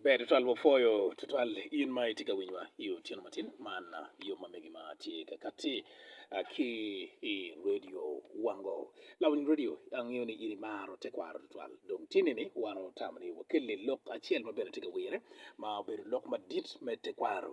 Ber tutwal wapwoyo tutwal in ma itye ka winyowa i otyeno matin man yo ma megi ma tye ka kati ki i redio wango lawiny redio angeyo ni in imaro tekwaro tutwal dong tyeni ni wan watamo ni wakelli lok acel ma bene tye ka wire ma obedo lok madit me tekwaro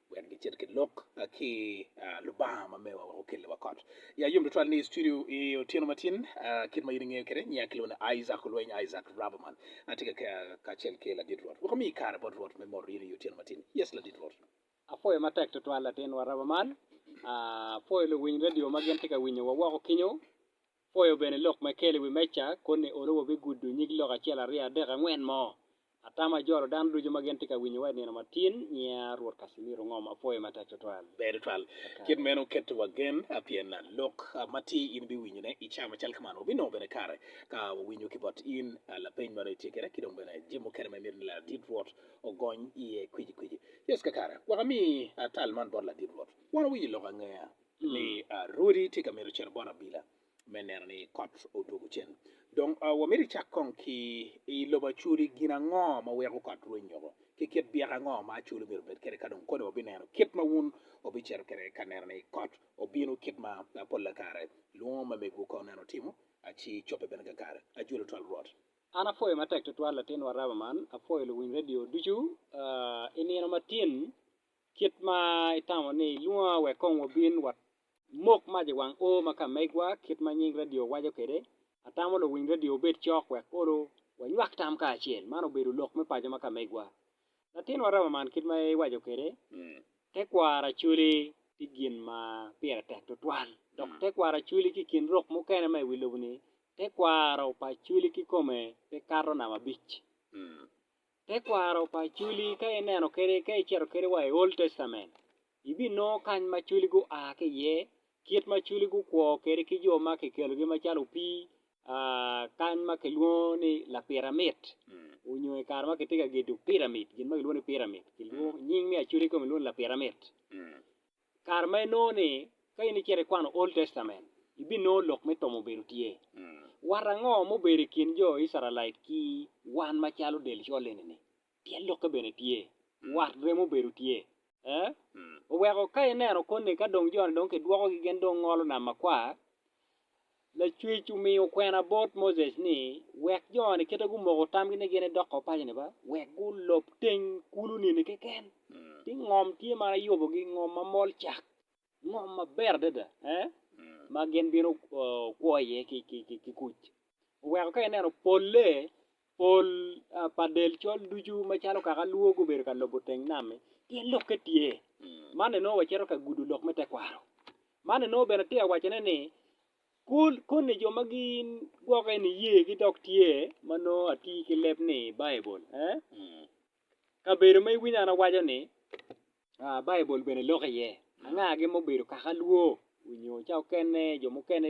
wek gicit ki lok ki Lubanga ma mewa wek okelli wa kot. Ya yom tutwal ni i studio i otyeno matin kit ma in ingeyo kede nyiya kilwongo ni Isaac Olweny Isaac Rabaman atye ka kacel ki Ladit Rwot. Wek omi kare bot Rwot me moro in i otyeno matin. Yes Ladit Rwot. Apwoyo matek tutwal latinwa Rabaman. Apwoyo luwiny radio ma gin tye ka winyo wa woko kinyo. Pwoyo bene lok ma ikelo i wi meja koni olo wabigudo nyig lok acel aryo adek angwen mo. Atamo ajolo dano ducu ma gin tye ka winyo wa i nino matin. Nyinga Ruot Casimiro Ngom. Apwoyo matek twatwal. Ber tutwal. Kit meno keto wa gen pien lok ma tye in ibiwinyo ne i caa macal ka man. Wabinongo bene kare ka wawinyo ki bot in lapeny ma dong itye kede ki dong bene jemo mukene ma imito ni ladit Rwot ogony iye kweci kweci. Yesu kakare wek ami tal man bot ladit Rwot. Wan wawinyo lok angeya. ni Rwodi tye ka mito cito bot abila me neno ni kot odwogo cen. Dong wamito icak kong ki i lobo acoli gin ango ma weko kot rweny nyoko, ki kit byek ango ma acoli myero obed kwede ka dong koni wabineno kit ma wun wubicito kwede ka neno ni kot obino kit ma pol lakare lwongo ma megwu ka oneno timo ci cobbe bene kakare. Ajwelo twal Rwot. An apwoyo matek tutwal latinwa Rama man, apwoyo luwiny radio ducu i nino ma tin Kit ma itamo ni ilwonga wek kong wabin wa. Mok mac i wang oo ma ka megwa kit ma nying radio waco kwede. Atamo luwiny radio wubed cok wek olo wanywak tam kacel. Man obedo lok me paco ma ka megwa. Latinwa Ramaman kit ma iwaco kwede, tekwaro Acholi tye gin ma pire tek tutwal. Dok tekwaro Acholi ki i kin rok mukene ma i wi lobo ni, tekwaro pa Acholi kikome pe kato namba abic. Tekwaro pa Acholi ka ineno kwede ka icito kwede wa i Old Testament ibinongo kany ma Acholi gua ki iye, kit ma Acholi gukwo kwede ki jo ma kikelogi macalo opii kany ma kilwongo ni lapiramit nyo i kare ma kitye ka gedo piramit gin ma kilwongo ni piramit nying me Acholi kong kilwongo ni lapiramit. I kare ma inongo ni ka in icito ikwano Old Testament, ibinongo lok me tomo obedo tye. Wat ango ma obedo i kin jo Icrael ki wan macalo del col eni-ni? Pien lokke bene tye. Wat remo obedo tye. Ee, oweko ka ineno koni ka dong jo-ni dong kidwokogi gin dong ngolo Nam Makwar, Lacwec omiyo kwena bot Moses ni wek jo-ni kite gumoko tamgi ni gin edoko wa paco-ni ba, wek gulob teng kulu nino keken. Ti ngom tye ma ayubogi, ngom ma mol cak, ngom maber adada, ma gin bino kwo iye ki kuc. Oweko ka ineno polle Pol pa del col ducu macalo kaka alwor gubedo ka lobo teng nam-mi, pien lokke tye. Man enongo wacito ka gudo lok me tekwaro. Man enongo bene atye ka wacone ni koni jo ma gigwokke ni yegi dok tye ma nongo atir ki leb ni Baibul? Kabedo ma iwinyo an awaco-ni Baibul bene lok iye. Angagi ma obedo kaka alwo onyo ca okene jo mukene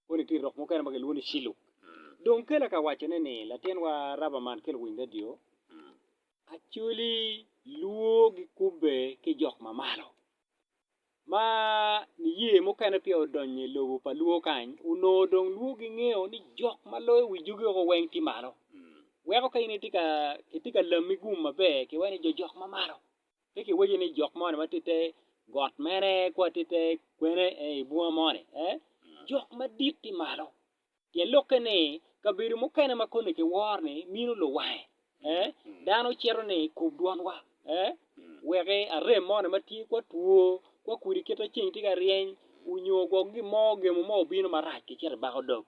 koni tye rok mukene ma kilwongo ni ciluk dong kela ka wacone ni latinwa Rabaman ki luwiny radio actually lwo gikube ki jok ma malo ma niye mukene peya odonyo i lobo pa lwo kany onongo dong lwo gingeyo ni jok ma loyo wi jogi woko weng tye malo weko ka in itye ka lami gum maber kiwaco ni jo jok ma malo. Pe kiwaco ni jok moni watitte got mene, ci watitte kwene, i bunga moni. Ee, jok madit tye malo. Pien lokke ni, kabedo mukene ma koni kiworo ni mino luwange, ee, dano cito ni kub dwanwa, ee, wek arem moni ma tye, kwa two, kwa kudi kit ma ceng tye ka ryeny, onyo gwok gin mo, gemo mo obino marac kicito ibako dog.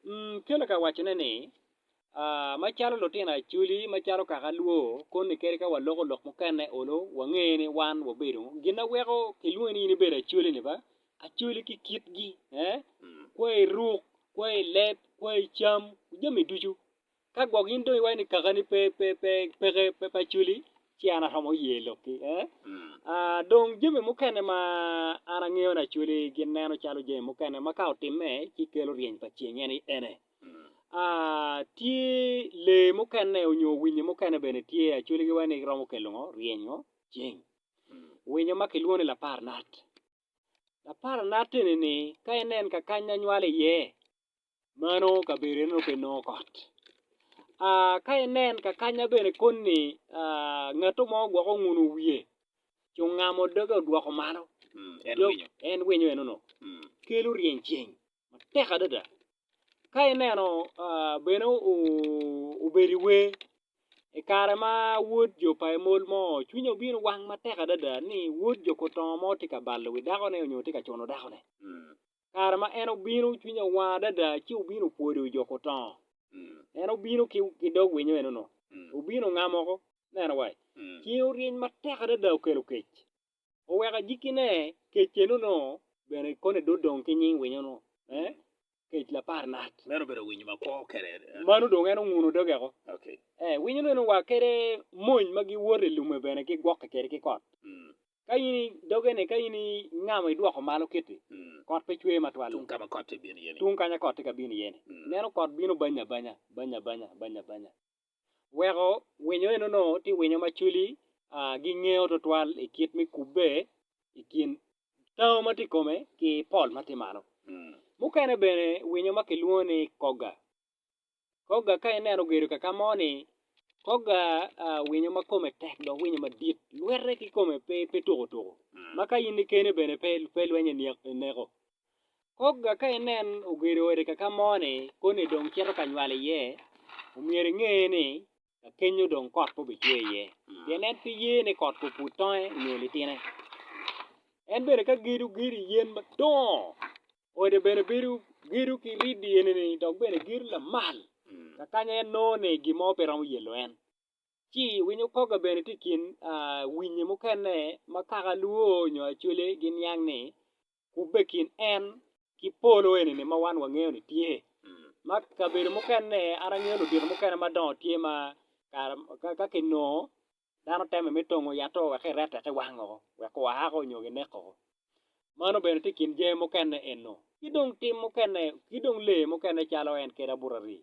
Umm, Keller kawacone ni, Macalo lutino Acholi macalo kaka alwo koni kadi ka waloko lok mukene olo wange ni wan wabedo gin ma weko kilwongi ni in ibedo Acholi ni ba Acholi ki kitgi kwo i ruk kwo i leb kwo i cam jami ducu ka gwok in dong iwaco ni kakani pe pe pe peke pe pe Acholi ci an aromo ye lokki dong jami mukene ma an angeyo ni Acholi gineno calo jami mukene ma ka otimme ci kelo ryeny pa ceng en aye ene. Tye lee mukene onyo winyo mukene bene tye acwelgi wa ni giromo kelo ngo? Ryenyo ceng. Winyo ma kilwongo ni laparnat. Laparnat eni ni ka inen ka kany ma nywalo iye mano kabedo eno nongo pe nongo kot. Ka inen ka kanya bene koni ngato mo gwok onguno wiye ci ongamo doge odwoko malo en winyo eno nongo kelo ryeny ceng. matek adada ka ineno bene obedo i wer i kare ma wod jo pa emol mo cwinye obino wang matek adada ni wod jo kutongo mo tye ka balo wi dakone nyo tye ka cuno dakone kare ma en obino cwinye owang adada ci obino opwodo jo kutongo en obino ki dog winyo eno nongo obino ongamoko neno wa cinge oryeny matek adada okelo kec. oweko ajikkine kec eno-nu bene kone dong odong ki nying winyo-nu me kec lapar nat. Meno obedo winyo ma kwo kede. Mano dong en onguno dogeko. Ee, winyo-nu eno wa kede mony ma giwoto i lume bene gigwokke kede ki kot. Ka in i doge-ni, ka in ingamo idwoko malo kiti, kot pe cwer matwal. Tung ka ma kot tye ka bino iye-ni. Tung kanya kot tye ka bino iye-ni. Ineno kot bino banya banya, banya banya, banya banya. Weko winyo eno onongo tye winyo ma cwili gingengo twatwal i kit me kubbe i kin tango ma tye i kome ki pol ma tye malo. Mukene bene winyo ma kilwongo ni kogga, kogga ka ineno ogedo ka ka mo-ni kogga winyo ma kome tek dok winyo madit lwette ki kome pe tukutuku ma ka in kene bene pe lwenye neko. Kogga ka inen ogedo ode kaka mo-ni koni dong cito ka nywalo iye, omyero inge ni ka kenyo dong kot pe obicwe iye, pien en pe ye ni kot gupud tonge nyo litine. En bene ka gedo gedo i yen madongo, ode bene bedo gedo ki riddi eni-ni dok bene gedo lamal ka kanya en nongo ni gin mo pe romo yelo en. Ci winyo kogga bene tye i kin winyi mukene ma kaka lwor nyo acwele giniang ni kubbe kin en ki polo eni ma wan wangeyo ni tye ma kabedo mukene an angeyo ludito mukene madongo tye ma ka kinongo dano teme me tongo yat to wek erette ki wango wek oako nyo gineko mano bene tye kin jami mukene eno kidong tim mukene kidong lee mukene calo en kede abuta rii.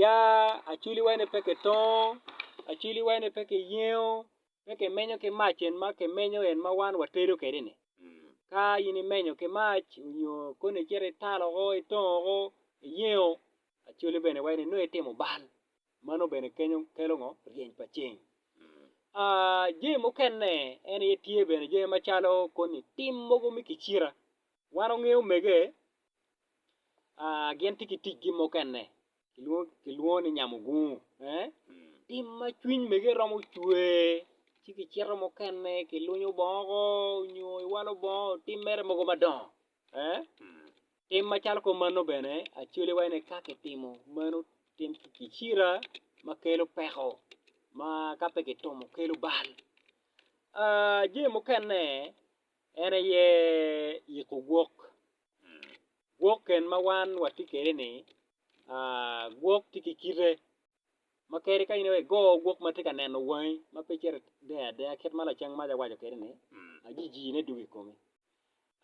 Ya acwili wai ni pe ki tongo, acwili wai ni pe ki yengo, pe ki menyo ki mac en ma ki menyo en ma wan wa tedo kede ni. Ka in i menyo ki mac nyo koni i cito i talo ko i tongo ko i yengo acwali bene wai ni nongo i timo bal mano bene kenyo kelo ngo ryeny pa ceng. Aa jami mukene en aye tye bene jami macalo koni tim mogo me kicita wan wangeyo mege Gin tye ki ticgi mukene kilwongo ni nyamugungu. Tim ma cwiny mege romo cwer ci kicito mukene kilwonyo bongo nyo iwalo bongo otim mere mogo madongo. Tim macalo kong mano bene acwali wa ni ka kitimo meno tim kicira ma kelo peko ma ka pe kitomo kelo bal. Jami mukene en aye yiko gwok. Gwok ken ma wan watye kwede ni gwok tye ki kite ma kadi ka in aye igo gwok ma tye ka neno wangi ma pe icito ideny adeya kit ma lacen maca owaco kwede ni ajijine dwogo i komi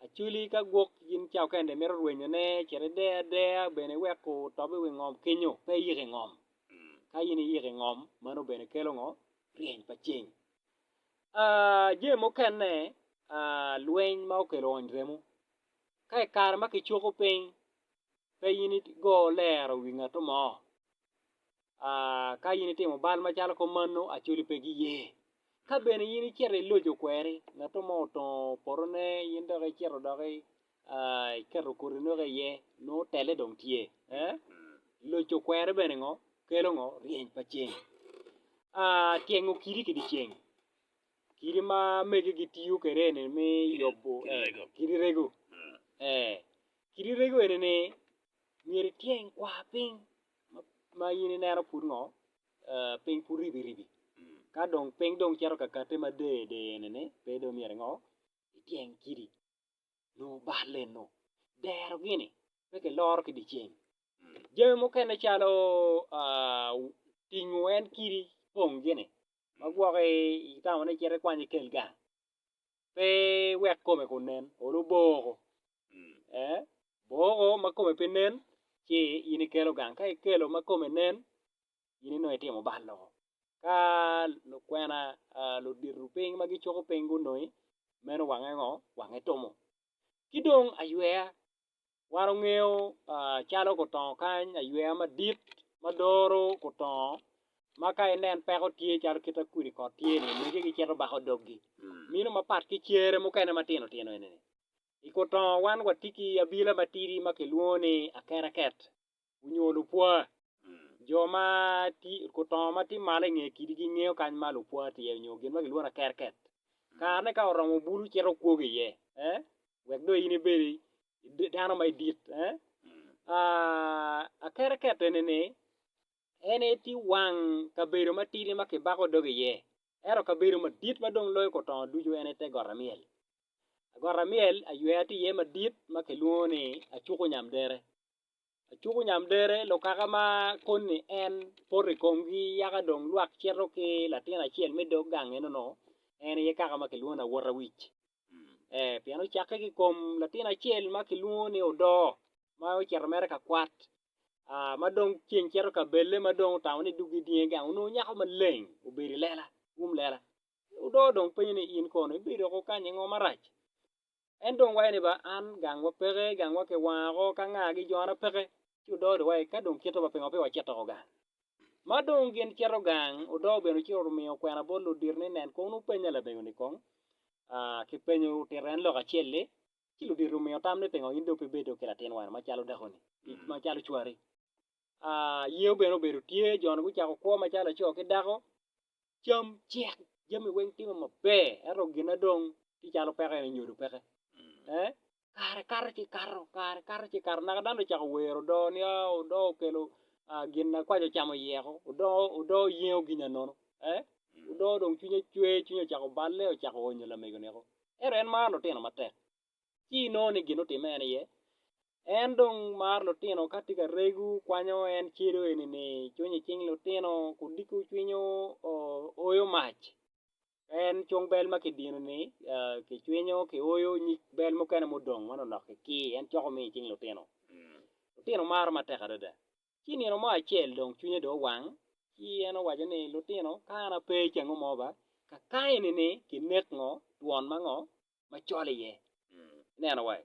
acwali ka gwok gin ca okene mito rwenyone cit ide adeya bene iweko otob i wi ngom kenyo pe iyik i ngom ka in iyik i ngom meno bene kelo ngo ryeny pa ceng jami mukene lweny ma okelo ony remo. Ka i kare ma kicuko piny, pe in itigo lero wi ngatu mo. Ka in itimo bal macalo kop manu, Acholi pe giye. Ka bene in icito iloco kweri, ngatu mo otongo potone, in dok icito dok iketo koti noki iye, nongo telle dong tye. Loco kweri bene ngo? Kelo ngo? Ryeny pa ceng. Tyengo kidi ki dyeceng. Kidi ma mege gitiyo kwede eni me yubo kidi rego. Kidi rego eni ni myero ityeng kwar piny ma in ineno pud ngo piny pud ribiribi ka dong piny dong cito ka kati ma der der eni ni pe dong myero ingo ityeng kidi nyo balle nyo dero gini pe kiloro ki diceng. Jami mukene calo tingo en kidi pong gini Ma gwoki itamo ni cit ikwany ikel gang pe wek kome kun nen olo boko ee boko ma kome pe nen ci in ikelo gang ka ikelo ma kome nen in inongo itimo bal loko ka lukwena ludito piny ma gicuko piny gunongi meno wange ngo wange timo ki dong ayweya wan ongeyo calo gutongo kany ayweya madit ma doro gutongo ma ka inen peko tye calo kit ma kodi kot tye ni mege gicito bako dogi meno mapat ki cere mukene matino tino eni i gutongo wan watye ki abila matidi ma kilwongo ni akereket. onyo lupwa. Jo ma gutongo ma tye malo i nge kidi gingeyo kany ma lupwa tye onyo gin ma kilwongo ni akerker. Kare ne ka oromo bulu cito okwogo iye wek dong in ibed dano ma idit. Akerker eni ni en aye tye wang kabedo ma tidi ma kibako dog iye ento kabedo madit ma dong loyo gutongo ducu en aye te got amyel. Got amyel aywer tye iye madit ma kilwongo ni acuku nyam dere. Acuku nyamdere lokaka ma koni en poto i komgi yaka dong lwak cito ki latin acel me dog gang eno-nu en aye kaka ma kilwongo ni awot awic ee pien ocakke ki i kom latin acel ma kilwongo ni odo ma ocito mere ka kwat ma dong ceng cito ka belle ma dong otamo ni dog-gi dyengo gang onongo nyako maleng obedo i lela um lela odo dong penye ni in kono ibedo ko kany ingo marac En dong wayo ni ba an gang wa peke gang wa kiwango ka nga gi jona peke ci odo odi wa ka dong kite wa pingo pe wa cito gang ma dong gin cito gang odo bene ci omiyo okwena bot ludito ni nen kong nongo penya labego ni kong aa ki penyo otito en lok acel ni ci ludito omiyo tam ni pingo in dong pe bedo ki latin wa ni ma calo dako ni ma calo cwari aa yewu bene obedo tye joni gucako kwo ma calo laco ki dako cam cek jami weng timo maber ento gine dong tye calo peko eni nyodo peke eh kare kato ci kato kare kato ci kato naka dano dong ocako wero odoo ni aa odoo okelo gin na kwaco ocamo oyeko odoo odoo yengo ginya nono eh odoo dong cwinye cwer cwinye ocako balle ocako onyo lamego niko ento en maro lutino matek ci inongo ni gin otime en iye. En dong maro lutino ka tye ka regu kwanyo en celu eni ni cwiny i cing lutino ku diko cwiny oyo mac en cung bel ma ki dino ni ki cwinyo ki oyo nyig bel mukene ma odong ma nongo dok ki kii en coko miyo i cing lutino lutino maro matek adada ci nino mo acel dong cwinye dong owang ci en owaco ni lutino ka an ape ca ango mo ba ka ka eni ni ki nek ngo twon ma ngo macol iye. Ineno wa?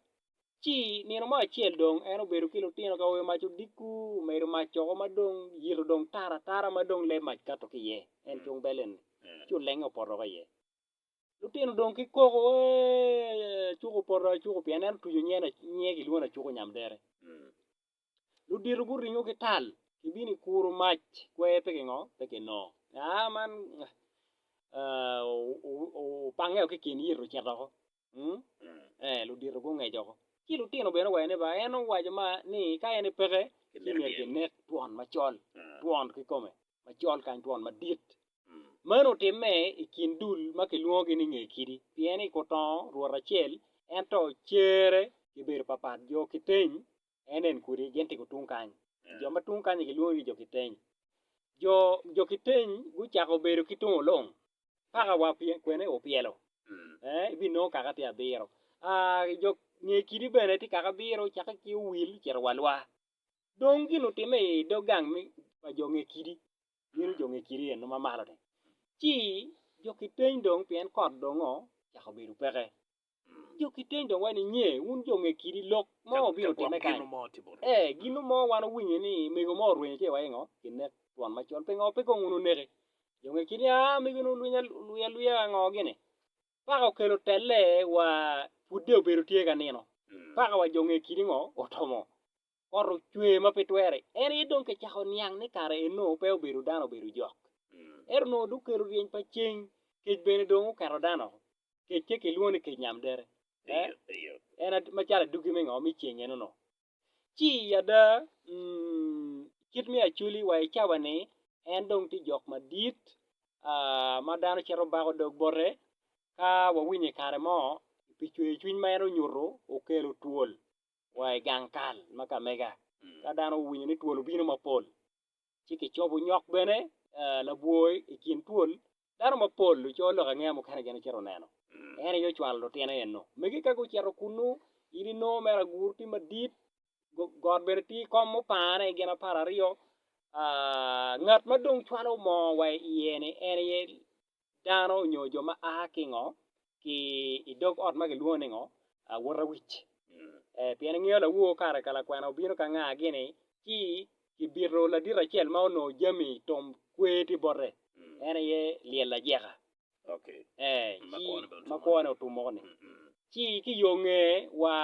Ci nino mo acel dong en obedo ki lutino ka oyo mac odiko, omedo mac coko ma dong yito dong tar atara ma dong lee mac kato ki iye, en cung belle-ni, ci olenge opoto ki iye. Lutino dong ki koko, Ee, acuku opoto acuku pien en otuco nyen, nyinge kilwongo ni acuku nyamdere. ludito guringo ki tal gibino i kuro mac kwer pe gingo pe gino aa man opange ki kin yito ocito woko ee ludito gungeco woko ci lutino bene owaco ni ba en owaco ma ni ka en peke ci myero kinek twon macol twon kikome macol kany twon madit meno otimme i kin dul ma kilwongogi ni nge kidi pien i kutongo rwot acel ento cere gibedo papat jo kiteng en en kodi gin tye gutung kany. Jo ma tung kany-ni gilwongi ki jo kiteny. Jo jo kiteny gucako bedo ki tung olong paka wa pye kwene opyelo ee ibinongo kaka tye abiro aa jo nge kidi bene tye kaka abiro cake ki owil ocito wa lwa dong gin otime i dog gang me pa jo nge kidi bino jo nge kidi eno ma malo-ni ci jo kiteny dong pien kot dong ocako bedo peke Jo ki teng dong wai ninye wun jo nge kidi lok mo obino time kany e ginu mo wan owinyo ni mego mo orwenyo ci waingo kinek twon macol pingo pe kong wun oneke jo nge kidi a mego ni olwinya olwiya lwiya ango gini paka okelo telle wa pudde obedo tye ka nino paka wa jo nge kidi ngo otomo kot ocwer ma pe twere, en aye dong kicako niang ni kare Enok pe obedo dano obedo jok. Ento onongo dong kelo ryeny pa ceng, kec bene dong oketo dano oko, kec ce kilwongo ni kec nyam dere, en macalo adwogi me ngo? Me ceng en onongo. Ci ada kit me Acholi wa i cawa ni en dong tye jok madit ma dano cito bako dog bote ka wawinyo i kare mo pi cwercwiny ma en onyuto okelo twol wa i gang kal ma ka mega. Ka dano owinyo ni twol obino mapol, ci kicobo nyok bene labwor i kin twol. Dano mapol oco lok angeya mukene gin ocito neno. En aye ocwalo lutino eno. Mege ka gucito kunnu, in inongo mere agur tye madit, got bene tye ikom mupane i gin apar aryo. Ngat ma dong cwalo moo wa i iye-ni en aye dano nyo jo ma a ki ngo ki i dog ot ma kilwongo ni ngo awutawic pien ingeyo lawowo kare ka lakwena obino ka nga gini ci kibito ladit acel ma onongo jami tom kwe tye bote en aye lyel ajeka ma kwo ne otum moko ni ci ki yo nge wa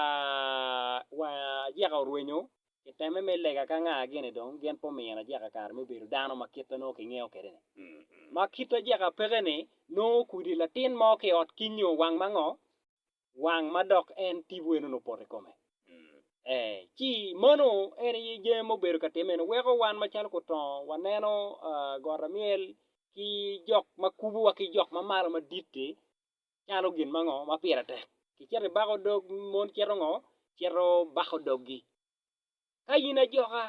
ajeka orwenyo I temme me lega ka nga gene dong gin pe omiyo Ajeka kare me bedo dano ma kite nongo kingeyo kwede ni. Ma kit Ajeka peke ni nongo okudi latin mo ki i ot ki nyo wang ma ngo? Wang ma dok en tipo eno ni opoto i kome. Ee, ci mano en aye jami ma obedo ka timme ni weko wan macalo kutongo waneno got amyel ki jok ma kubuwa ki jok ma malo madit-ti calo gin ma ngo ma pire tek kicito i bako dog mon cito ngo cito bako dogi ka in ajoka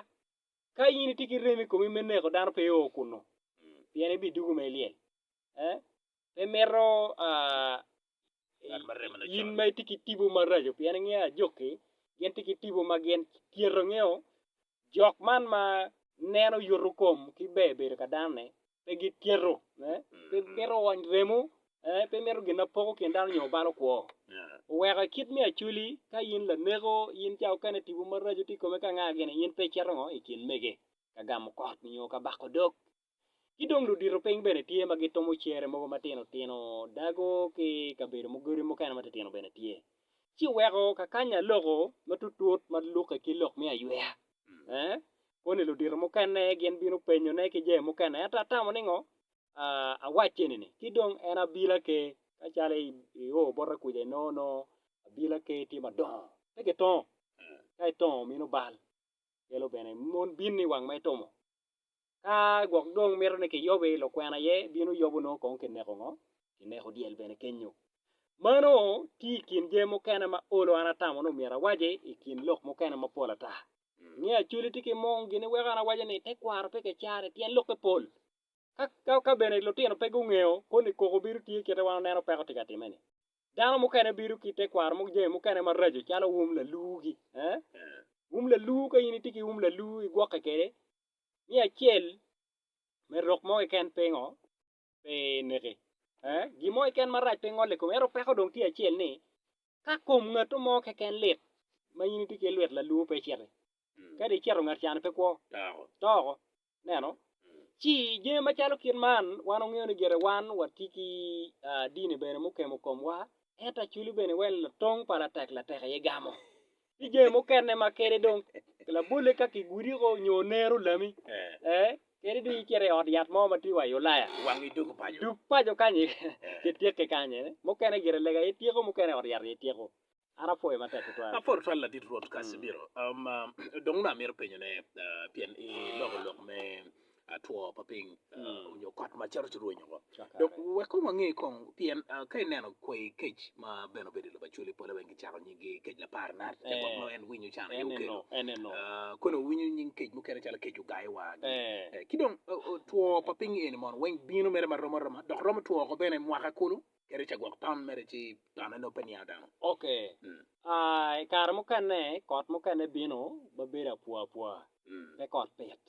ka in itye ki rem i komi me neko dano pe o kunu pien ibi dugu ma ilyel pe mito in ma itye ki tipo maraco pien ingeyo ajoki gin tye ki tipo ma gin tyero ngeyo jok man ma neno yuto kom ki ber bedo ka dano ni pe gitito, pe gimito wony remo, pe gimito gin ma poko kin dano nyo balo kwo. Oweko i kit me acwali, ka in laneko, in ca mukene tipo maraco tye i kome ka angaa gini, in pe icito ngo? I kin mege, ka gamo kot nyo ka bako dog. Ki dong ludito piny bene tye ma gitwomo cere mogo matino tino, dago ki kabedo godi mukene matitino bene tye. Ci weko kakanya loko matutut ma lukke ki lok me ayweya. Koni ludito mukene gin bino penyone ki jami mukene ento atamo ni ngo awacce ni ni ki dong en abila ke macalo io bote kuca inongo nongo abila ke tye madongo pe kitongo ka itongo mino bal kelo bene mon bini wang ma itomo. Ka gwok dong mito ni kiyobe i lokwena aye bino yobo nongo kong kineko ngo? Kineko dyel bene kenyo. Mano tye i kin jami mukene ma olo an atamo ni omyero awaci i kin lok mukene mapol ata. Inge Acholi tye ki mung gin weko an awaco ni tekwaro pe kicane pien lokke pol. Ka ka bene lutino pe gungeyo koni koko bino tye kite wan oneno peko tye ka time ni. Dano mukene bino ki tekwaro mo jami mukene maraco calo um lalugi. Um lalu ka in itye ki um lalu igwokke kede ni acel me rok mo keken pingo pe neke. Gin mo keken marac pe ngole i kome ento peko dong tye acel ni ka kom ngat mo keken lit ma in itye ki lwet lalwo pe iciti kadi icito ngat cani pe kwo to oko ineno ci jami macalo kit man wan wangeyo ni gire wan watye ki dini bene mukemo komwa ento acwali bene wai latong pa latek latek aye gamo. Tye jami mukene ma kede dong labole ka kigudiko nyo nero lami eh, kede dong icito i ot yat mo ma tye wa i Ulaya Wang i dog paco. dug paco kany kitikke kany eh. mukene gire lega aye tyeko mukene ot yat aye tyeko an apwoyo matek tutwal. Apol tutwal Ladit Rwot Casimiro. Um, um, dong nongo amito penyone, uh, pien iloko lok me two pa piny onyo kot ma cito ci rwenyo woko dok wek kong wange kong pien ka ineno kwayi kec ma bene obedo i lobo acwali pole weng kicako nying gi kec lapar nat ca gwok nongo en winyo can aye okelo kong owinyo nying kec mukene calo kec ogayo wa ki dong two pa piny eni mono weng bino mere marom aroma dok romo two woko bene mwaka kulu kadi ca gwok ton mere ci tone nongo pe niango dano ok kare mukene kot mukene bino ma bedo apwa apwa pe kot pit.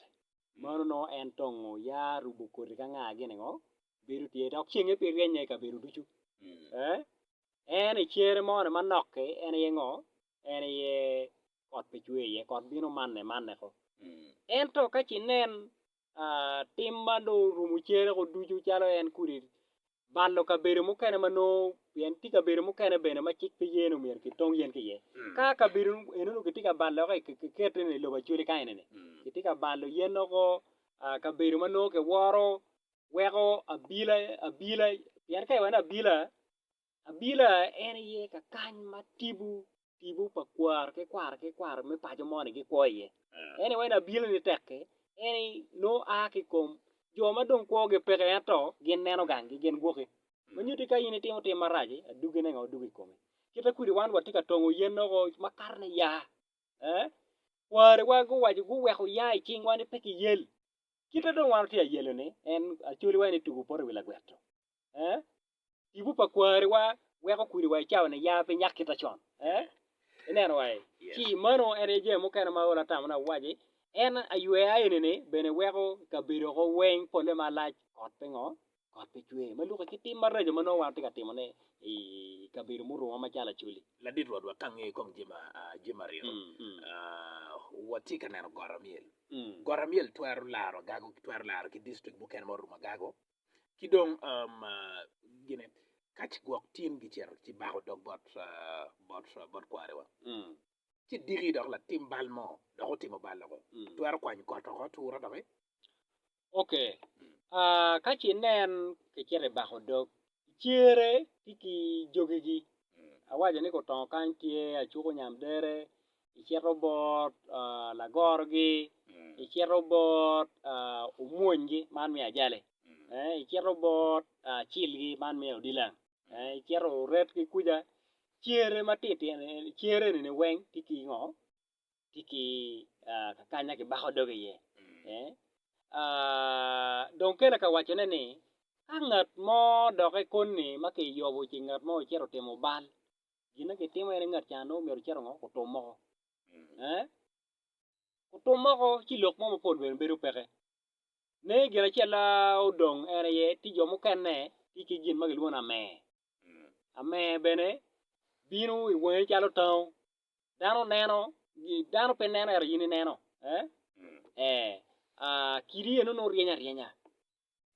Meno nongo en tongo ya rubo koti ka nga gin ngo bedo tye dok cenge pe ryeny i kabedo ducu eh en i cere mo ni manok ki en aye ngo en aye kot pe cwer iye kot bino manne manne ko ento kaci nen tim ma dong orumo cere ko ducu calo en kodi balo kabedo mukene ma nongo pien tye kabedo mukene bene ma cik pe ye ni myero kitong yen ki iye. Ka kabedo eno-nu kitye ka balo ki i kite ni lobo Acholi ka ene-ni, kitye ka balo yen nongo kabedo ma nongo kiworo weko abila abila pien ka iwaci ni abila, abila en aye kakany ma tipo tipo pa kwaro ki kwaro ki kwaro me paco mo ni gikwo iye. Anyway ni abino ni tek-ki en ni nongo a ki i kom jo ma dong kwogi peke ento gin neno ganggi gin gwokki. Ma nyutti ka in itimo tim marac-ci, aduggine nga oduggo i komi? Kite kwedi wan watye ka tongo yen woko makato ni ya, ee, kwariwa guwaco guweko ya i cingwa ni pe kiyel. Kite dong wan watye ka yelo-ni, en acoliwa en ni tugo poto i wi lagwet-tu, ee, Tipo pa kwariwa weko kwiriwa i cawa niya pe nyak kita con. Ineno wa i? Ci mano en aye jami mukene ma ol atamona awaci. En ayweya eni-ni bene weko kabedo oko weng polle malac kot pe ngo? Kot pe cwer ma lukke ki tim maraco ma nongo wan watye ka timone i kabedo muruma macalo Acholi. Ladit Rwotwa, ka angeyo kong jami aryo, watye ka neno got amyel. Got amyel twero laro agago, twero laro ki dictrict mukene ma orumo agago. ki dong gine ka ci gwok tin gicito ci bako dog bot bot bot kwariwa ci diki dok latim bal mo dok otimo bal loko twero kwanyo kot oko atura doki. Ok ka ci nen kicito ibako dog cere ki ki jogigi awaco ni gutongo kany tye acuku nyam dere icito bot lagorogi, icito bot omwonygi, man me ajali, icito bot acilgi, man me odilang, icito oret ki kwica, cere matitino eni, cere eni weng tye ki ngo? tye ki kakanya kibako doge iye, dong kele ka wacone ni ka ngat mo doki koni ma kiyubo ci ngat mo ocito otimo bal gin ma kitimo aye ni ngat can nongo myero ocit ongo otum moko eh otum moko ci lok mo mapol bene bedo peke ne gin acel ma odong en aye tye jo mukene tye ki gin ma kilwongo ni amer, amer bene bino i wangi calo tango dano neno dano pe neno ento in ineno eh kidi eno nongo ryeny aryenya.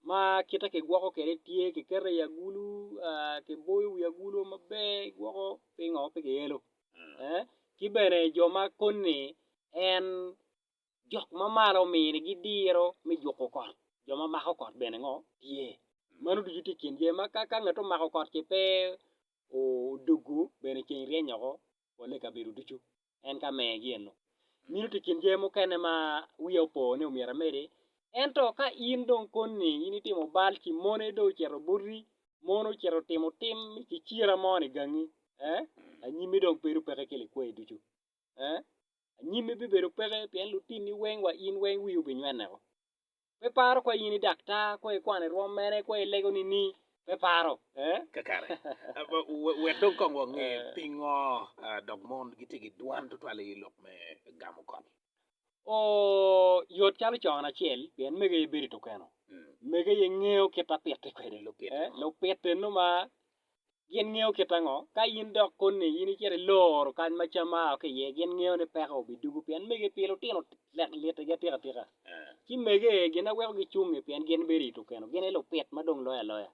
ma kite ki gwoko kwede tye ki keto i agulu aa ki boyo wi agulu maber gwoko pingo pe ki elo ee ki bene jo ma koni en jok ma malo omini gi diro me juko kot jo ma mako kot bene ngo tye meno ducu tye i kin jami ma ka ngat omako kot ci pe odugu bene ceng ryeny oko polle i kabedo ducu. En ka megi eno, minitu i kin jami mukene ma wiya opo ni omyero amedi. Ento ka in dong koni in itimo bal ci moni dong ocito buti, moni ocito timo tim me kicira mo ni gangi, ee, anyimmi dong bedo peke ki likwayi ducu. Ee, anyimmi bibedo peke pien lutinni weng wa in weng wii obinyweneko. pe paro kwe in i daktar kwe i kwano i rwom mene kwe i lego nini pe paro eh kakare wek dong kong wange eh. pingo dok mon gitye ki dwan tutwal i lok me gamo kot oh yot calo con acel pien mege ye bedo tukeno mm. mege ye ngeo kita pite kwede lupite eh, lupite numa Gin ngeyo kit ango? Ka in dok koni in icito iloro kany ma cam aa ki iye, gin ngeyo ni peko obidugu pien mege pi lutino tek litigi atika atika. Ci mege ee gin aweko gicungi pien gin bedo i tukeno, gin aye lupit ma dong loyo aloya.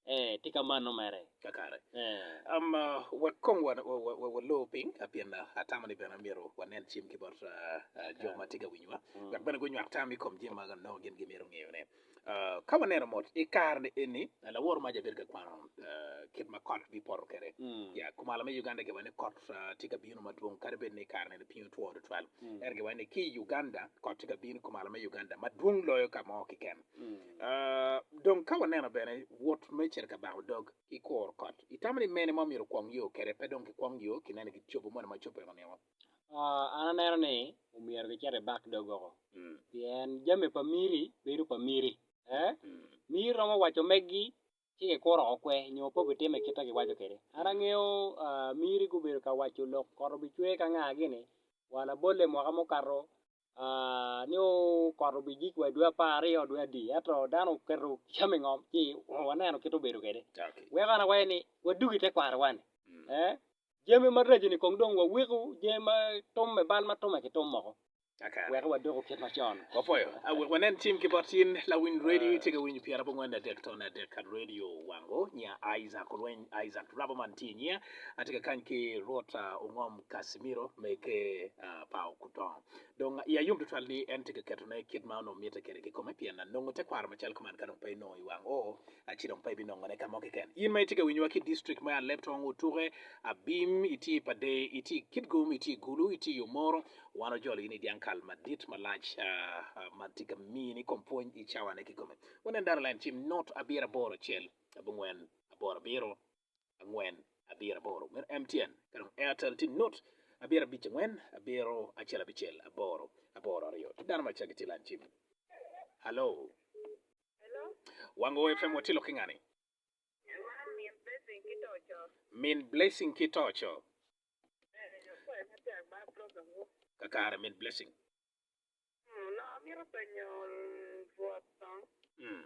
Ee, tye ka mano mere. Kakare. Um, wek kong wa, wa, wa, wa, walor piny, ah, pien ah, atamo ni bene myero wanen cim ki bot ah, ah, jo ma tye ka winyowa, wek bene gunywak tam i kom jami ma nongo gin gimito ngeyone. Ka waneno mot i kare-ni eni, laworo mac abedo ka kwano kit ma kot bipoto kwede. Ya, kumalo me Uganda giwaco ni kot tye ka bino madwong, kadi bed ni i kare-ni lapiny otwo tutwal. Ento giwaco ni ki i Uganda, kot tye ka bino i kumalo me Uganda madwong loyo ka mo keken. Ah, dong ka waneno bene wot me cito ka bango dog ki kuro kot, itamo ni mene ma omyero okwong yo kwede? Pe dong kikwong yo, kineno gin cobo moni ma cobbe weko nino. Aa, an aneno ni omyero gicit i bak dogoko, pien jami pa miri bedo pa miri. Ee, miri romo waco meggi ci gikuro oko kwe nyo pe gitimo i kit ma giwaco kwede. An angeyo aa, miri gubedo ka waco lok koto bicwe ka nga gini, wa labolle mwaka mukato nio kot obijik wa idwe apar aryo dwe adi ento dano oketo cam i ngom ci waneno kit obedo kwede weko an awaco ni wadog ite kwaro wani jami maraco ni kong dong wawiko jami ma tume bal ma tume ki tum moko weko wadoko kit macon wapoyo wek wanen cim ki bot in lawiny redi tye ka winyo pyera bongwen dadek ton adek ka radio wango nya Isaac olweny Isaac rabo man tye inya atye ka kany ki rwot ongom Casimiro me ker pa Okutongo. Dong iya yom tutwal ni en tye ka ketone kit ma onongo mitte kwede kikome pien nongo tekwaro macalo kuman ka dong pe inongo i wang oo ci dong pe ibinongone ka mo keken. In ma itye ka winyowa ki i district me Alep, Tong Otuke, Abim, itye i Padee, itye i Kitgum, itye i Gulu, itye i Omoro, wan ojolo in i dyangkal madit malac ma tye ka mini kom pwony i cawane kikome. Wanen data line cim not abiro aboro acel abongwen aboro abiro. angwen abiro aboro mere MTN ka dong Airtel tye nut abiro abic angwen abiro acel abicel aboro aboro aryo ki dano ma cagi tye lan cim Hello Wango FM watye lok ki ngani Min Blessing ki Toco kakare Min Blessing Amito penyo rwot dong. Mm.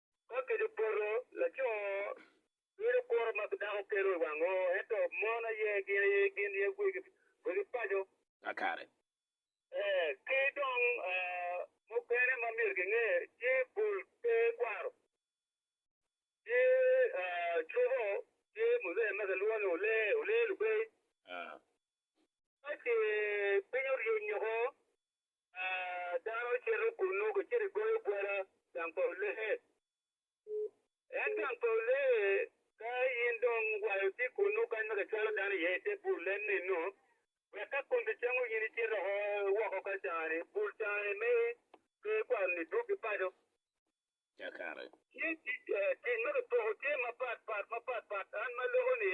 Ka kidi poto, laco ngido kuro ma dako kelo i wang oo, ento mon aye gin aye gin aye wegi paco. Akare. Ee, ki dong mukene ma myero kinge tye bul pe kwaro, tye cobo, tye muzee ma kilwongo ni olee, olee lubey. Ka ce piny oryeny oko, dano cito kunnu ki cito goyo gwada gang pa olee. En gang pa olee, ka in dong wa itye kunnu kany ma kicwalo dano iye ite bul en nino, wek ka kun kicango in icito oko woko ka cani, bul cani me lee kwaro ni dwogi paco. Tye tic ma kipoko tye mapat pat mapat pat, an ma aloko ni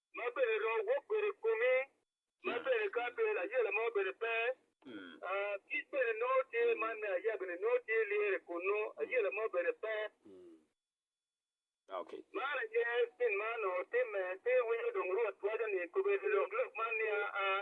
ma bene ro wok bedo i komi, ma bene ka pe layela mo bene pe, kic bene nongo tye, man me aya bene nongo tye lyere kunnu, ayela mo bene pe. Man aye gin ma onongo timme, ci iwinyo dong Rwot waco ni, 'Kobedi lok lok man niya, Aa,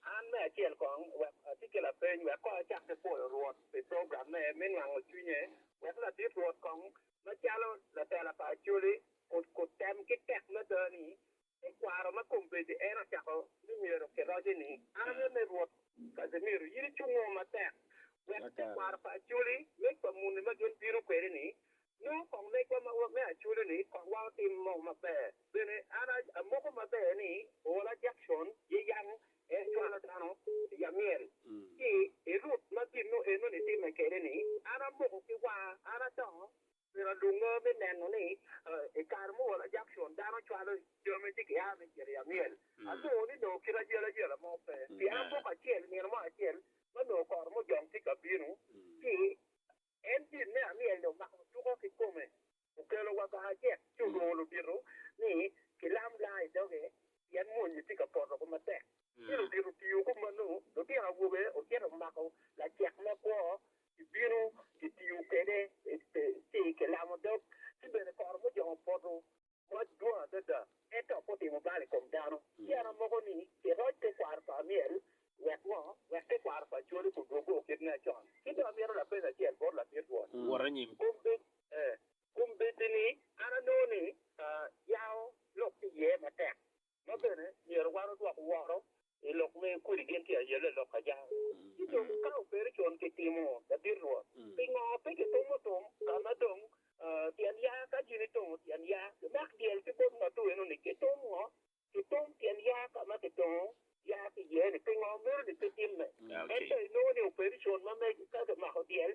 An me acel kong, wek ati ki lapeny wek kong acak ki pwoyo Rwot pi program me me nwango cwinye, wek ladit Rwot kong macalo latela pa Acholi ot ot tem ki tek mada ni te kwaro ma kombeddi en ocako ni myero ki roce ni Arane me Rwot Casimiro in icungo matek wek te kwaro pa Acholi me pa muni ma gin bino kwede ni Nongo kong megwa ma me aculoni kong wa otim mo maber. Bene an amoko maber ni ola Jackson Yeyang en cwalo dano i amyel ki i rut ma ginno eno ni timme kede ni an amoko ki wanga an adongo. Myero alunge me neno ni i kare ma ola Jackson dano cwalo jami ci gia me cito i amyel anongo ni nongo kit ayel ayela mo pe pien amoko acel nino mo acel ma nongo koro mujong tye ka bino ci En dit me aryeny omako tuko ki kome. Okelo wa kaka acel ci olwongo ludito ni gilam laa i doge pien mony-nyi tye ka poto ku matek. Ci ludito otiyo ku manu, lutino awobe ocito omako lacek me kwo, gibino gitiyo kwede ci gilamo dog, ci bene koro mujongo poto. mac dwong adada, en dok otimo bal i kom dano. Ci en amoko ni, Iroc tekwaro pa Amiel. Wek ngo? Wek tekwaro pa Coli gudwogi o kit me acon. Ci dong amito lapeny acel bot Lamit Rwot. Wot anyim. Kombeddi ni, an anongo ni, Yao lok ki iye matek. ma bene myero wan odwok woro i lok me kodi gin tye aye le lok ajang. Ci dong ka obedo con ki timo labit Rwot, pingo pe kitumo tum ka ma dong tyen ya? Ka gin itongo tyen ya, kimak dyel ki bot ngatu eno ni kitum ngo? Kitum tyen ya ka ma kitongo ya ki iye ni, pingo meno ni pe timme? Ento inongo ni obedo con ma mege ka kimako dyel.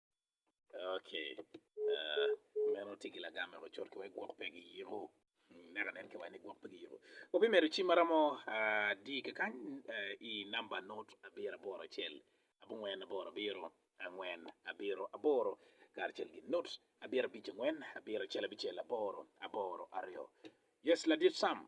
Ok, ah, meno tye gi lagam wek ocot ki wek gwok pe giyiko. Mm, Neka nen ki wani gwok pe giyiko. Wabi medo ci maramo ah, di kakany eh, i namba not abiro aboro acel, abongwen aboro abiro, angwen abiro aboro, karacel gi not abiro abic angwen, abiro acel abicel aboro, aboro aryo. Yes, ladit Sam.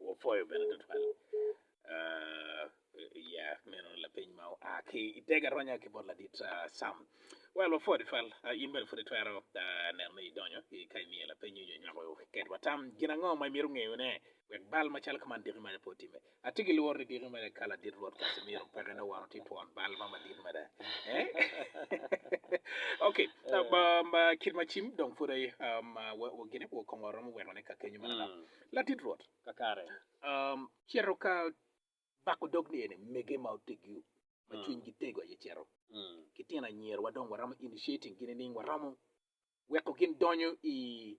Wapwoyo bene tutwal ah, ya meno lapeny ma oa ki i tega ronya ki bot ladit ah, Sam. Well, wapwoyo tutwal. Ah, in bene pud itwero ah, neno ni idonyo i ka imiyo lapeny nyo nywako ketwa tam. Gin ango ma imito ngeyone wek bal macalo ka man diki maja pe otimme? Atye ki lworo ni diki mere ka ladit Rwot Casimiro peke dong wan watye twon bal ma madit mada. ok, um, um, uh, kit ma cim dong pud aye um, uh, wa- wa- gine wa kongo romo weko ne ka kenyo mada. Mm. Ladit Rwot, Kakare. um, cito ka bako dog ni ene mege ma otegio ma Mm. cwinygi tego aye cito Mm. ki tino anyira wa dong waromo initiating gi nining waromo weko gin donyo i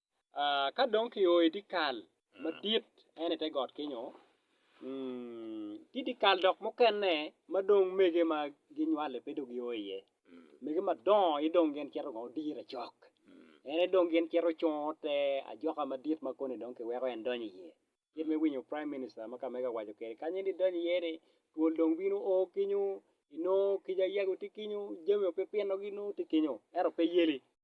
Ka dong kio i dyekal madit ento i te got kenyo tye dyekal dok mukene ma dong mege ma ginywali pe dong gio iye, mege madongo aye dong gin cito kong dire cok en aye dong gin cito cungo te ajoka madit ma koni dong kiweko en donyo iye, kit ma iwinyo prime minister ma ka mege owaco kwede kanya ni idonyo iye ni twol dong bino o kenyo, inongo kica yego tye kenyo, jami opipino gi nongo tye kenyo ento pe yeli.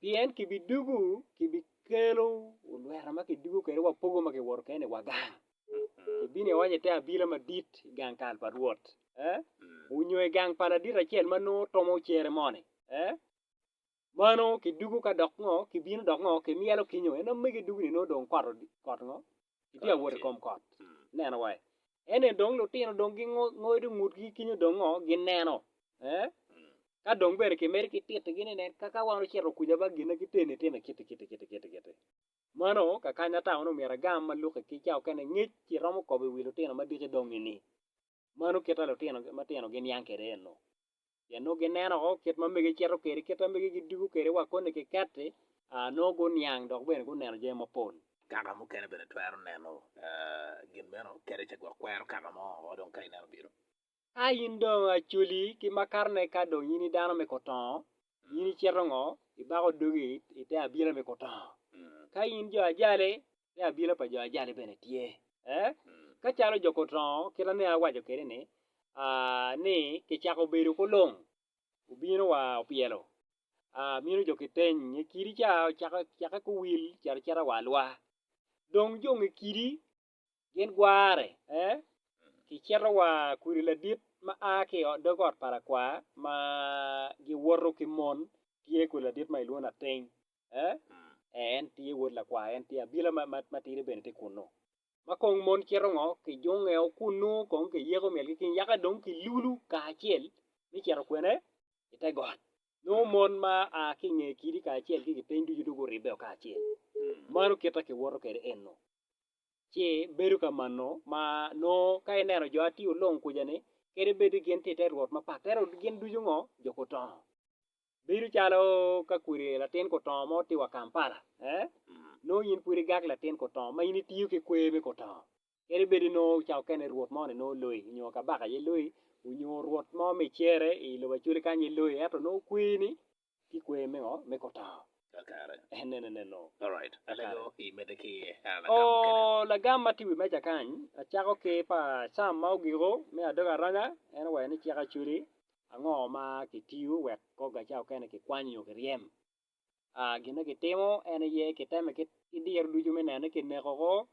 pien kibidugu kibikelo olweta ma kidugu kwede wapogo ma kiwoto kene i wa gang, kibino iwaco ite abila madit i gang kal pa Rwot, onyo i gang pa ladit acel ma nongo tomo cere moni, mano kidugu ka dok ngo, kibino dok ngo kimyelo kinyo, en omege dugu-ni nongo dong kot ngo? Itye ka wot i kom kot. Neno wa, ene dong lutino dong gingodo ngutgi kinyo dong ngo gineno. Eh? Ka dong bene kimedo ki titigi ni nen kaka wan ocito kuja ba gina giteni itime kiti kiti kiti kiti kiti. Mano kakanya ata wano myero agam ma Luke kica okene ngec ci romo kobo i wi lutino madiki dong-ngi ni. Mano kit ma lutino matino giniang kwede ennu, pien nongo gineno woko kit ma mege cito kwede, kit ma mege gidwogo kwede wa koni kiketti, nongo guniang dok bene guneno jami mapol. Kaka mukene bene twero neno gin meno kadi ka gwok kwero kaka mo woko dong ka ineno bino. Ka in dong acoli ki makarne ka dong in i dano me kotongo, in icito ngo? Ibako dogi i te abila me kotongo. Ka in jo ajali, ki abila pa jo ajali bene tye. Ee, ka calo jo Kotongo kit ane awaco kwede-ni, ni kicako bedo kulung, obino wa opyelo, mino jo kiteny nge kidi ca ocakke kuwil cito cita wa alwa. Dong jo nge kidi gin gware, ee, kicito wa kudi ladit ma a ki i dog ot pa lakwar ma giwoto ki mon tye kudi ladit ma ilwongo ni Ateny. Ee, en tye wod lakwar, en tye abila matidi bene tye kunnu. Ma kong mon cito ngo? Kijungeo kunnu kong kiyeko myelgi ki nyaka dong kilulu kacel me cito kwene? I te got. Nongo mon ma a ki i nge kidi kacel ki gipiny ducu dong guribbeo kacel. Mano kit ma kiwoto kwede eno. Ci bedo ka mano ma nongo ka ineno jo ati olong kuca-ni, kadi bed ni gin tye i te rwot mapat, ento gin ducu ngo? Jo gutongo. Bedo calo ka kodi latin kutongo mo tye wa Kampala nongo in pud igak latin kutongo ma in itiyo ki kwer me kutongo kadi bed ni nongo ca mukene rwot mo ni nongo loyi nyo kabaka aye loyi nyo rwot mo ma icere i lobo Acholi kany aye loyi ento nongo kwerni tye kwer me ngo me kutongo. Oo lagam ma tye i wi meja kany acako ki pa Cam ma ogiko me adog aranya en owero ni cik Acholi Ango ma kitiyo wek kor gacawa okene kikwany nyo kiryem? A Gin ma kitimo en aye kiteme ki diro ducu me neno ni kineko oko,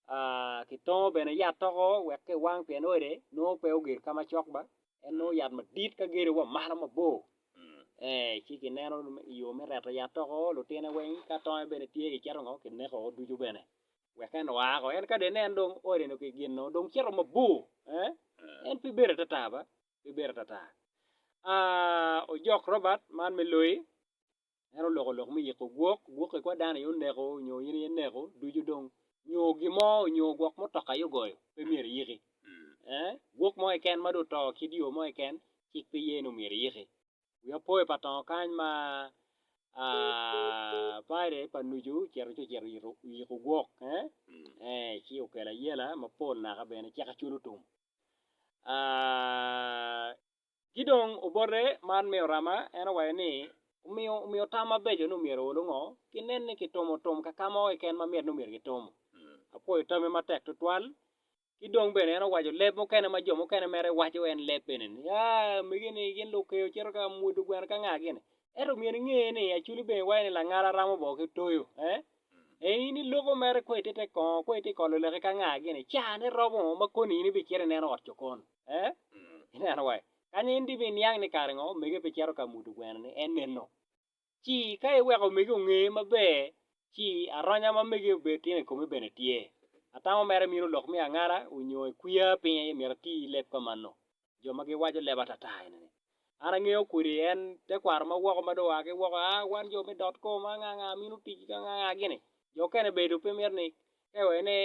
a kitongo bene yat oko wek kiwang pien ode nongo pe ogedo ka macok ba, en nongo yat madit ka gedo wa malo mabor. Ee, ci kineno i yo me reto yat oko, lutine weng ka tonge bene tye kicito ngo kineko oko ducu bene wek en oa oko. En ka dong ineno dong ode-nu ki gin-nu dong cito mabor, ee, en pe bedo atata ba. pe bedo atata. A Ojok Robert, man me loyi, en oloko lok me yiko gwok, gwok ikwa dano aye oneko nyo in aye ineko ducu dong nyo gin mo nyo gwok mutoka aye ogoyo pe myero iyiki. Eh, gwok mo keken ma dong oto kit yo mo keken cik pe ye ni omyero iyiki. Wiya opo i patongo kany ma a Friday pa nucu ocito ci ocito yito yiko gwok eh, eh ci okelo ayela mapol naka bene cika culo tum. Ki dong obote man me Orama en owaco ni, Omiyo tam mabeco ni omyero olu ngo, ki nen ni kitumo tum ka ka mo keken ma myero ni myero kitum. Apwoyo tamme matek tutwal. Ki dong bene en owaco leb mukene ma jo mukene mere waco en leb eni ni, Aa, mege ni gin lukeyo cito ka mwodo gweno ka nga gini. Ento omyero inge ni aculi bene iwaco ni langala ramo boo ki toyo. Eh? E in iloko mere ko ite te kongo ko ite kolo laki ka nga gini cane romo ma koni in ibi cito ineno ot cokon. Eh? Ineno wai. Kanya in dibi niang ni kare ngo omege pe cito ka mudo gweno ni en neno. Ci ka iweko omege onge maber ci aronya ma mege obed timo i komi bene tye. Atamo mere mino lok me angala onyo ikwiya piny aye myero ati leb ka mano. jo ma giwaco leb atata enini, An angeyo kwiri en tekwaro ma woko ma dong oa ki woko, a wan jo me dot kom, a nga nga minu tic ki nga nga gini, jo okene bene dong pe mito ni ka iwaco ni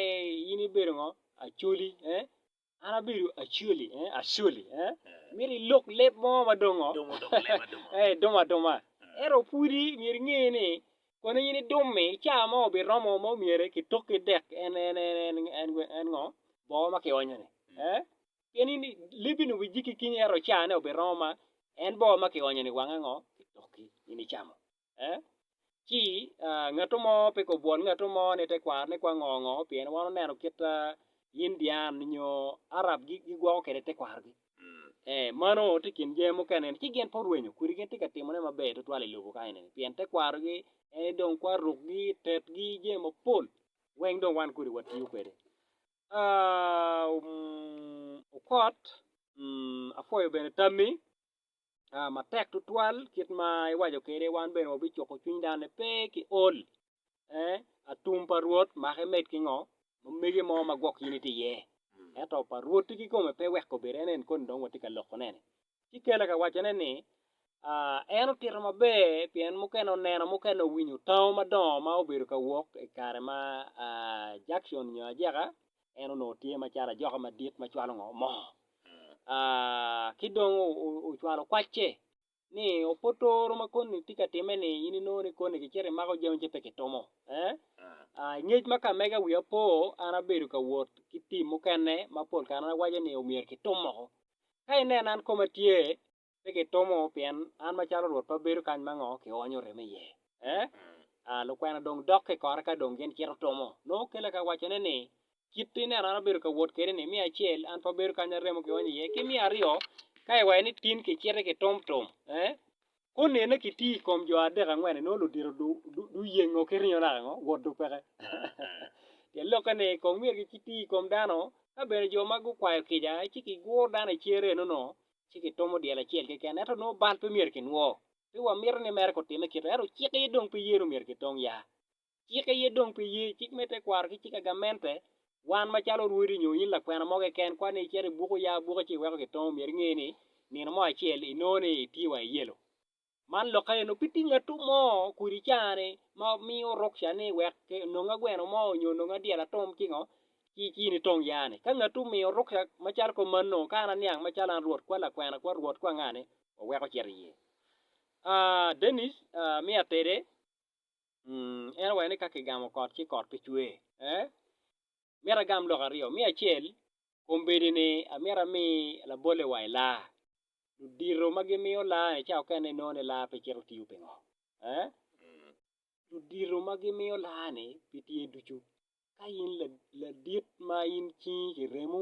in ibedo ngo, Acholi eh, an abedo Acholi eh, Acholi eh, myero ilok leb mo ma dong ngo, eh idumo aduma, ento pwodi myero inge ni kono in idum-mi ca mo obiromo ma omyere kitoki dek en, en, en, en, en, en ngo, bongo ma kionyo-ni eh, pien in libbi-ni owicci ki kinyi, ento ocane obiromo ma en bor ma kionyo-ni wange ngo? Kidokki, in icamo. Eh? Ci, ah, ngatto mo pe kobwol ngatto mo ni tekwarone kwang ngo ngo, pien wan oneno kit ma Indian nyo Arab gigwoko kwede tekwarogi. Eh, mano tye i kin jami mukene ni ci gin pe orwenyo kwiri, gin tye ka timone maber tutwal i lobo ka enini, pien tekwarogi en-ni dong kwarukgi, tetgi, jami mapol weng dong wan kodi watiyo kwede. Okot, apwoyo bene tammi matek tutwal kit ma iwaco kwede wan bene wabicuko cwiny dano ni pe ki ol atum pa Rwot make med ki ngo ma mege mo ma gwok in itye iye ento pa Rwot-ti kikome pe weko bedo en en koni dong watye ka lokone-ni ci Kela ka wacone ni, En otito maber pien mukene oneno, mukene owinyo tango madongo ma obedo ka wok i kare ma Jackson nyo Ajeka en onongo tye macalo ajoka madit ma cwalo ngo mo. Ki dong ocwalo kwacce ni ope otoro ma koni tye ka timme ni in inongo ni koni kicito imako jami ci pe kitumo. I ngec ma ka mega wiya po, an abedo ka wot ki tim mukene ma pol kare an awaco ni myero kitum moko. Ka inena an koma tye, pe kitumo, pien an macalo Rwot pe abedo kany ma ngo kionyo remo iye. Eh? Ah, lukwena dong dokke i kore ka dong gin cito tumo. Nongo okele ka wacone ni, Kit ineno an abedo ka wot kede-ni, miyo acel, an pe abedo kany ma remo kionyo iye, ki miyo aryo, ka iwaco ni tin kiciti kitum tum. Eh? Konene ki tii ikom jo adek angwen inongo ludito du yengo ki ringo naka ngo? Wot du peke. Pien lokke ni kong myero ki tii ikom dano, ka bene jo ma gu kwayo kica ci ki guro dano i cere eno no ci ki tomo dyel acel keken ento nongo bal pe myero ki nwo. Pe wa mito ni mere ku time kito ento cik aye dong pe yeno myero ki tong yaa. Cik aye dong pi ye, cik me tekwaro ki cik agamente. Wan macalo orwodi nyo in lakwena mo keken, kwan ni icito ibuko ya buke ci iweko gitongo myero inge ni nino mo acel inongo ni itye wa i yelo. Man lokke eno pe tye ngatu mo kodi caa ni ma miyo ruksa ni wek ononga gweno mo nyo ononga dyel atum ci ngo ci ci in itong ya ni. Ka ngatu omiyo ruksa macalo kong mano ka an aniang macalo an rwot kwa lakwena kwa rwot kwa nga ni waweko cito iye. Aa Dennis, aa miya tede. En oweko ni ka kigamo kot ci kot pe cwer. Ee, myero agam lok aryo. Me acel, kombeddi-ni amyero ami labolle wa i laa. Ludito ma gimiyo laa-ni cawa okene inongo ni laa pe cito tiyo. Pingo? Ee, ludito ma gimiyo laa-ni pi tye ducu. Ka in ladit ma in cingi kiremo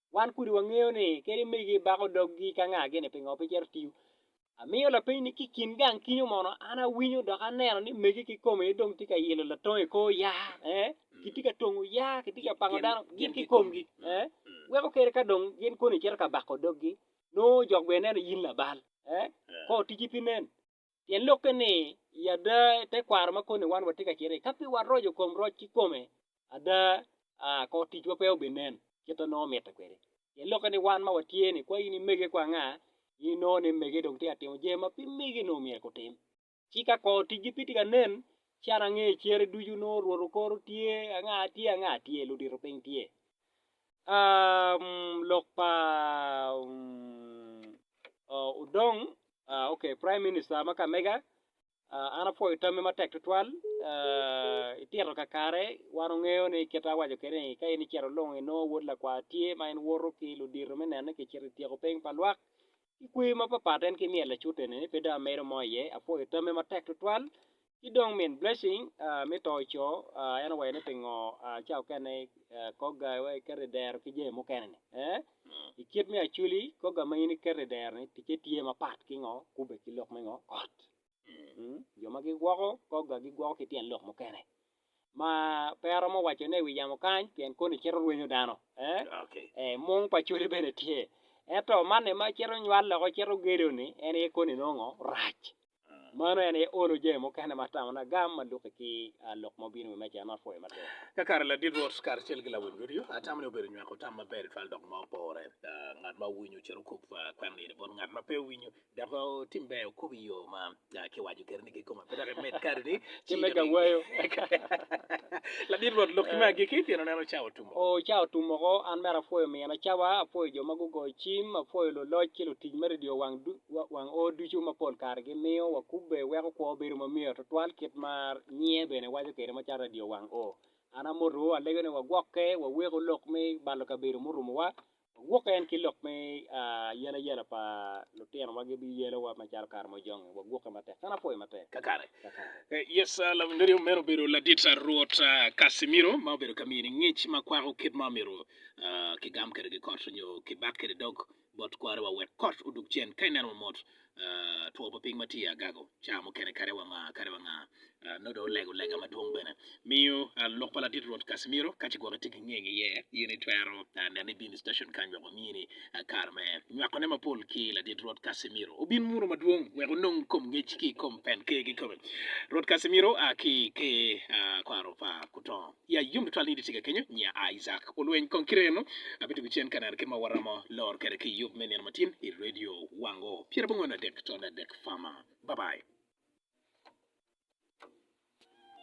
Wan kudi wangeyo ni kadi megi bako doggi ka ngagi ni pingo pe cito tiyo. Amiyo lapeny ni ki kin gang kinyo mono an awinyo dok aneno ni megi ki kome aye dong tye ka yilo latongo i kor yaa eh? kitye ka tongo yaa kitye ka pango dano gin ki komgi eh? weko kere ka dong gin koni cito ka bako doggi nongo jok bene neno in labal eh? kor tiji pi nen Pien lokke ni, I ada, i te kwaro ma koni wan watye ka cito iye, ka pe waroco kom roc kikome, ada kono ticwa pe obinen kit ma nongo mitte kwede. Pien lokke ni wan ma watye ni, kwa in imege kwa anga, in inongo ni mege dong tye ka timo jami ma pe mege onongo myero gutim. Ci ka kono ticgi pe tye ka nen, ci an angeyo cere ducu, nongo Rwot okoro tye, anga tye, anga tye, ludito piny tye. Lok pa Odong ok prime minister ma kamega an apwoyo tammi matek tutwal itito kakare wan wangeyo ni kit ma awaco kwede ni ka in icito ilungo inongo wod lakwar tye ma in woto ki ludito me neno ni kicito ityeko piny pa lwak Ki kweyo mapapat en ki myel acutte ni pe dong amedo mo iye, apwoyo tamme matek tutwal. Ki dong min Blessing me to co en owero ni pingo ca okene kogga iwek iketo i dero ki jami mukene ni ee? I kit me Acholi kogga ma in iketo i dero ni ticce tye mapat ki ngo kubbe ki lok me ngo kot? Jo ma gigwoko kogga gigwoko ki tyen lok mukene ma pe aromo wacone i wi yamo kany pien koni cito rwenyo dano. Ee, mung pa codi bene tye. Ento manni ma cito nywal loko cito gedo-ni en aye koni nongo rac. Mano en aye olo jami mukene ma tamona gam ma luki ki lok ma obino i wi meja-ni ma apwoyo matek. Ka kare ladit Rwot karacel ki lawiny Rwot yo, atam ni obedo nywako tam maber twal dok ma opore. Ngat ma owinyo cito kop kwena nino bot ngat ma pe owinyo, Dok tim ber wukob i yo ma kiwaco keri ni kikome pe dok imed kare ni Ci me ka wayo. Ladit Rwot lok kime agikki pien oneno cawa otum oko. O cawa otum oko, an mere apwoyo mino cawa, apwoyo jo ma gugoyo cim, apwoyo luloc ki lutic me redio wang o ducu ma pol kare gimiyo wakubbe weko kwo bedo ma myero tutwal kit ma nyiye bene waco kwede macalo redio wang o. An amotowu alego ni wagwokke, waweko lok me balo kabedo murumowa, Wagwok en ki lok me ayalayala pa lutino wa gibi yelo wa ma calo kare mo jonge wagwoke matek an apwoyo matek kakare yes labongo meno obedo ladit rwot Casimiro ma obedo ka mini ngic ma kwako kit ma omiro ki gam kede ki kot nyo ki bat kede dog bot kware wa wek kot odug cen ka ineno mamot two pa piny ma tye agago caa mukene kadi wanga kadi wanga nongo dong olego lega madwong bene miyo lok pa ladit Rwot Casimiro ka ci gwok itye ki ngenge iye in itwero nene ibino i station kany wek omiyi ni kare me nywako ne mapol ki ladit Rwot Casimiro obin muno madwong wek onong kom ngec ki kom pen ker kikome Rwot Casimiro ki ker kwaro pa kutongo Ya yom tutwal ni idyecika kenyo, nya a Isaac olweny kong ki remo. Abitugo cen ka neno kit ma waromo lor kwede ki yub me nino matin i redio wango pyera bongwen adek tol adek fama. Babai.